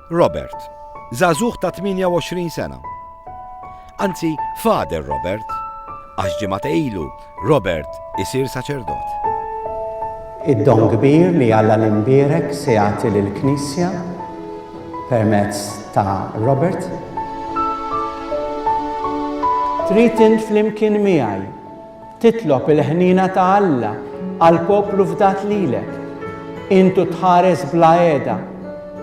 Robert, zazuħ ta' 28 sena. Anzi, fader Robert, għax ġimgħa ilu Robert isir saċerdot. Id-don kbir li għalla l-imbirek se jagħti lill-Knisja permezz ta' Robert. Trid int flimkien miegħi Titlob il-ħniena ta' Alla għall-poplu fdat lilek. Int u tħares bla għeda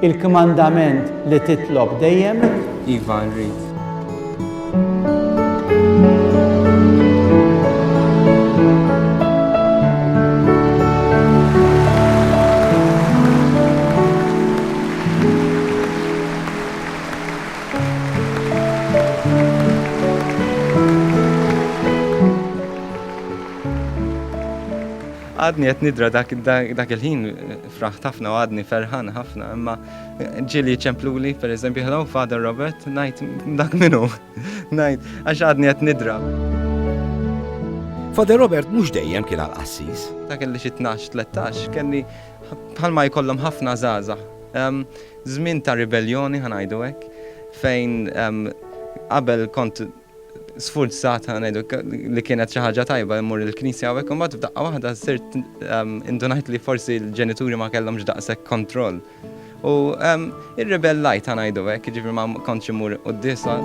il-kmandament li titlob dejjem? Iva, nrid. Għadni qed nidra dak il-ħin fraħ ħafna u għadni ferħan ħafna, imma ġili ċempluli, per eżempju, hello, Father Robert, najt dak minu, najt, għax għadni qed nidra. Father Robert mhux dejjem kien għal qassis. Dak li xi 12-13 kelli bħalma jkollhom ħafna żgħażagħ. Żmien ta' ribelljoni, ħa ngħidu hekk, fejn qabel kont sfurzat, ħa ngħidu, li kienet xi ħaġa tajba mmur il-knisja hawnhekk, u mbagħad f'daqqa waħda sirt indunajt li forsi l-ġenituri ma kellhomx daqshekk kontroll. U irribellajt, ħa ngħidu hekk, jiġifieri ma kontx immur quddiesa.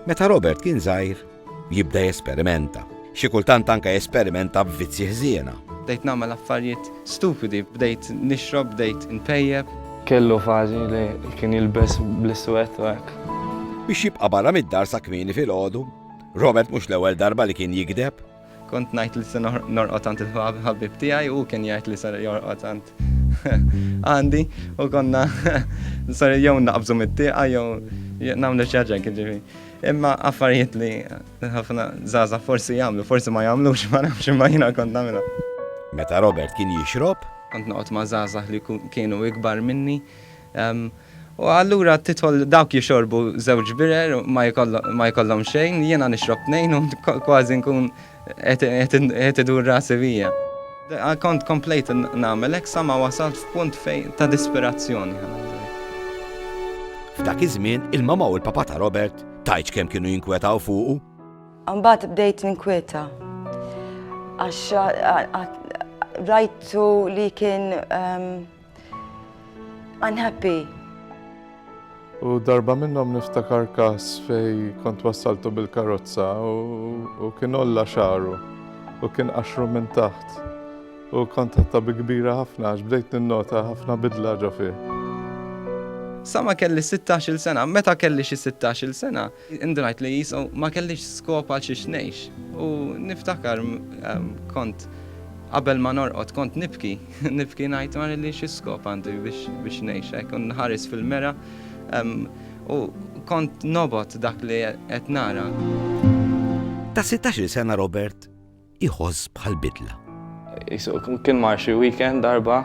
Meta Robert kien żgħir, Jibda jesperimenta. Xi kultant anke jesperimenta b'vizzji ħżiena. Bdejt nagħmel affarijiet stupidi. Bdejt nixrob, bdejt inpejjep. Kellu fażi li kien jilbes bl-iswed u hekk. Biex jibqa' barra mid-dar sa kmieni filgħodu. Robert mhux l-ewwel darba li kien jigdeb. Kont ngħid li se norqod għand il-ħabib tiegħi u hu kien jgħid li ser jorqod għand għandi u konna ser jew naqbżu mit-tieqa jew nagħmlu xi ħaġa jiġifieri. Imma affarijiet li ħafna żgħażagħ forsi jagħmlu, forsi ma jagħmlux, ma nafx imma jiena kont nagħmilha. Meta Robert kien jixrob? Kont noqgħod ma' żgħażagħ li kienu ikbar minni, U allura tidħol dawk jixorbu żewġ birer ma jkollhom xejn, jiena nixrob tnejn u kważi nkun qed idur rasi bija. Kont komplejt nagħmel hekk sa ma wasalt f'punt fejn ta' disperazzjoni, ħa ngħidu hekk. F'dak iż-żmien, il-mamà u l-papà ta' Robert, tgħidx kemm kienu jinkwetaw fuqu? Imbagħad bdejt ninkwieta għax rajtu li kien. Unhappy. U darba minnhom niftakar każ fej kont wassaltu bil-karozza u kien olla xaru u kien qaxru minn taħt u kont ħatta bi kbira ħafna għax bdejt ninnota ħafna bidla ġo fih. Sa ma kelli 16-il sena, meta kelli xi 16-il sena, indunajt li jisu ma kellix skop għal xiex ngħix. U niftakar kont qabel ma norqod kont nibki. Nibki ngħid ma nilli xi skop għandi biex ngħix hekk u nħares fil-mera u kont nobot dak li qed nara. Ta' 16-il sena Robert iħoss bħal bidla. Kien mar xi weekend darba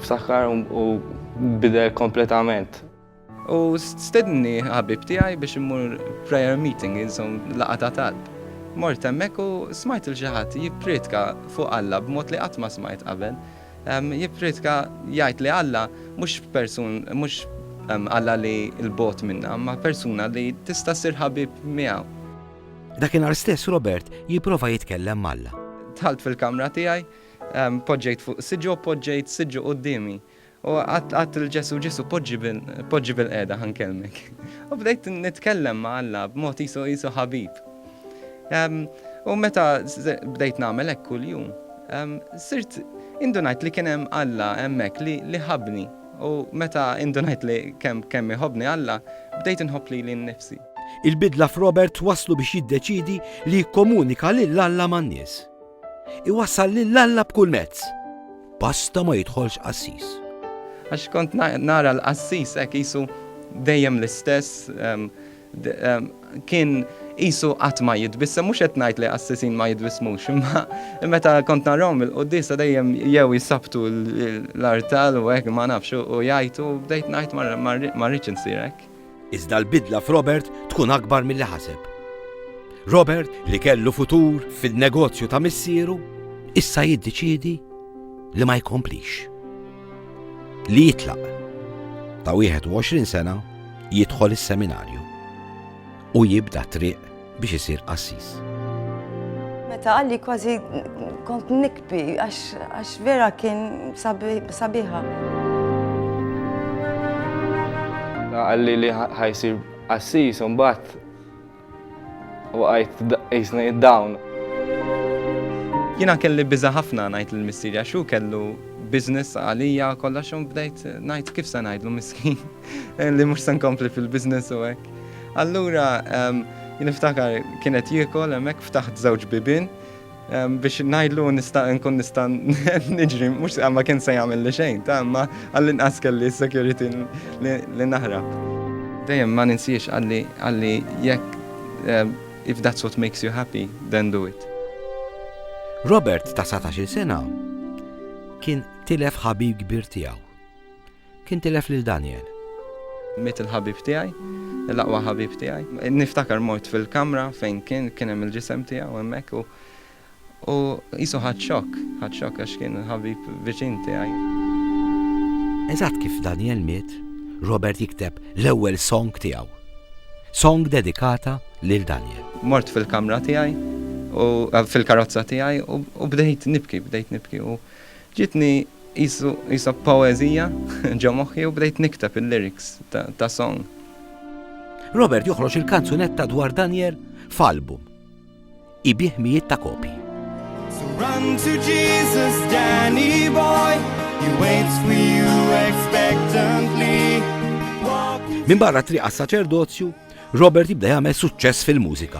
ftakar u bidel kompletament. U stedni ħabib tiegħi biex immur prayer meeting, insom laqa ta' talb. Mort hemmhekk u smajt il xi ħadd jipprietka fuq Alla b'mod li qatt ma smajt qabel. Jipprietka jgħid li Alla mhux persun mhux Alla li l-bogħod minna, imma persuna li tista' ssir ħabib miegħu. Dakinhar stess Robert jipprova jitkellem m'Alla. Dħalt fil-kamra tiegħi, poġġejt fuq siġġu u poġġejt siġġu quddiemi. U għadt għadt lil Ġesù, Ġesù, poġġi bil, poġġi bilqiegħda ħa nkellmek. U bdejt nitkellem ma' Alla b'mod qisu qisu ħabib. Ehm, u meta bdejt nagħmel hekk kuljum, ehm, sirt indunajt li kien hemm Alla hemmhekk li, li ħabni. U meta indunajt li kemm kemm iħobbni Alla, bdejt inħobb lili nnifsi. Il-bidla f'Robert twasslu biex jiddeċiedi li jikkomunika lil Alla man-nies. Iwassal lil Alla b'kull mezz. Pasta ma jidħolx qassis. Għax kont nara l-qassis hekk qisu dejjem l-istess, kien qisu qatt ma jitbissem, mhux qed ngħid li qassisin ma jitbissmux, imma meta kont narahom il-quddiesa dejjem jew jisabtu l-artal u hekk ma nafx u jgħajtu bdejt ngħid ma rridx insir hekk. iżda l-bidla f'Robert tkun akbar milli ħaseb. Robert, li kellu futur fin-negozju ta' missieru, issa jiddeċiedi li ma jkomplix. Li jitlaq ta' 21 sena jidħol is-seminarju u jibda triq biex isir qassis. Meta għalli kważi kont nikbi għax vera kien sabiħa. Għalli li ħajsir qassis un bat u għajt jisna id-dawn. Jina kelli biza ħafna najt l-missiri għaxu kellu biznis għalija kolla xum bdejt najt kif sa najdlu miskin. Eh, li mhux se nkompli fil-business u hekk. Allura ehm, niftakar kienet jiekol hemmhekk ftaħt żewġ bibin ehm, biex ngħidlu nista' nkun nista' niġri mhux ma kien se jagħmel li xejn, ta' ma għall-inqas kelli s-security li naħrab. Dejjem ma ninsiex għalli għalli jekk ehm, if that's what makes you happy, then do it. Robert ta' 17 sena kien tilef ħabib kbir tiegħu. Kien tilef lil Daniel. Miet il-ħabib tiegħi, l-aqwa ħabib tiegħi. Niftakar mort fil-kamra fejn kien, kien hemm il-ġisem tiegħu hemmhekk u u qisu ħadd xokk, ħadd xokk għax kien ħabib viċin tiegħi. Eżatt kif Daniel miet, Robert jikteb l-ewwel song tiegħu. Song dedikata lil Daniel. Mort fil-kamra tiegħi u fil-karozza tiegħi u bdejt nibki, bdejt nibki u ġietni Qisu qisha poeżija ġo moħħi u bdejt nikteb il-lyrics ta' song. Robert joħroġ il-kanzunetta dwar Daniel f'album. Ibiegħ mijiet ta' kopji. So run to Jesus, Danny boy, he waits for you expectantly. Min barra triqa saċerdozju, Robert jibda jagħmel suċċess fil-mużika.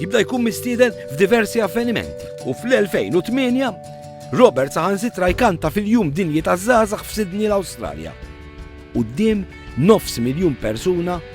Jibda jkun mistieden f'diversi avvenimenti u fl-2008 Robert saħansitra jkanta fil-jum dinji taż-żgħażagħ f'Sydney l-Awstralja. Quddiem nofs miljun persuna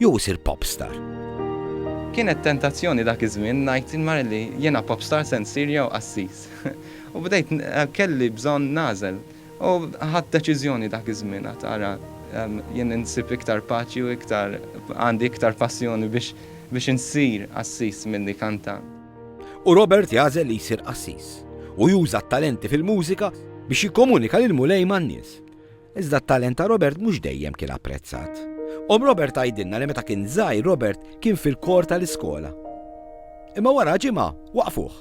Jew isir popstar? Kienet tentazzjoni dak iż-żmien ngħid il-mara li jiena popstar se nsir jew qassis. U bdejt kelli bżonn nagħżel. U ħadt deċiżjoni dak iż-żmien għad tara jien insib iktar paċi u iktar għandi iktar passjoni biex biex insir qassis milli kantant. U Robert jagħżel li jsir qassis u juża t-talenti fil-mużika biex jikkomunika lill-Mulej man-nies. Iżda t-talent ta' Robert mhux dejjem kien apprezzat. Omm Robert tgħidilna li meta kien żgħir Robert kien fil-kor tal-iskola. Imma wara ġimgħa waqfuh.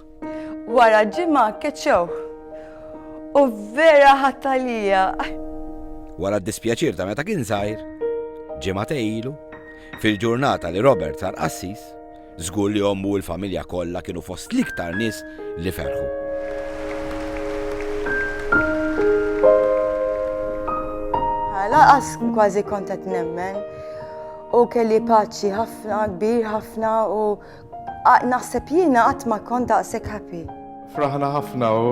Wara ġimgħa keċċewh. U vera ħadt għalija. Wara d-dispjaċir ta' meta kien żgħir, ġimgħatej ilu, fil-ġurnata li Robert sar qassis, Żgur li ommu u l-familja kollha kienu fost l-iktar nies li ferħu. Laqas kważi kont qed nemmen u kelli paċi ħafna, kbir ħafna u naħseb jiena qatt ma kont daqshekk happy. Fraħna ħafna u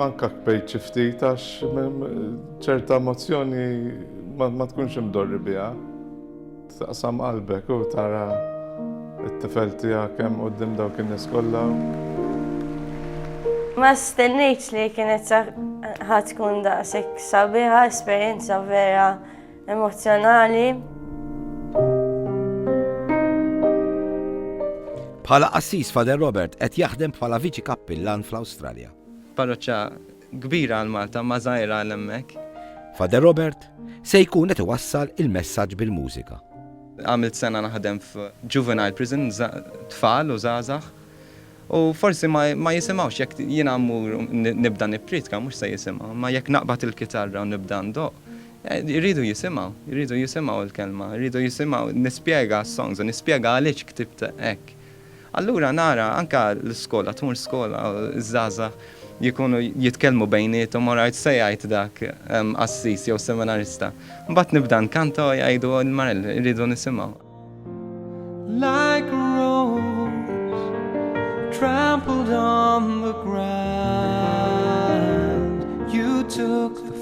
anka kbejt xi ftit għax ċerta emozzjoni ma tkunx imdorri biha. Taqsam qalbek u tara t-tifel tiegħek hemm quddiem dawk in-nies kollha. Ma stennejtx li kienet sa ħa tkun daqshekk sabiħa, esperjenza vera emozzjonali. Bħala qassis Father Robert qed jaħdem bħala viċi kappillan fl-Awstralja. Parroċċa Kbira għal Malta, ma żgħira għal hemmhekk. Father Robert se jkun qed iwassal il-messaġġ bil-mużika. Għamilt sena naħdem f' juvenile prison, tfal u żgħażagħ, u forsi ma jisimgħux jekk jiena mmur nibda nipprietka mhux se jisimgħu, imma jekk naqbad il-kitarra u nibda ndoqq, iridu jisimgħu, iridu jisimgħu l-kelma, iridu jisimgħu nispjega s-songs u nispjega għaliex ktibt hekk. Allura nara anke l-iskola tmur skola u ż-żgħażagħ jkunu jitkellmu bejniethom u ngħid se jgħid dak qassis jew seminarista. Mbagħad nibda nkanta u jgħidu l-marel irridu nisimgħu. Like rose trampled on the ground you took the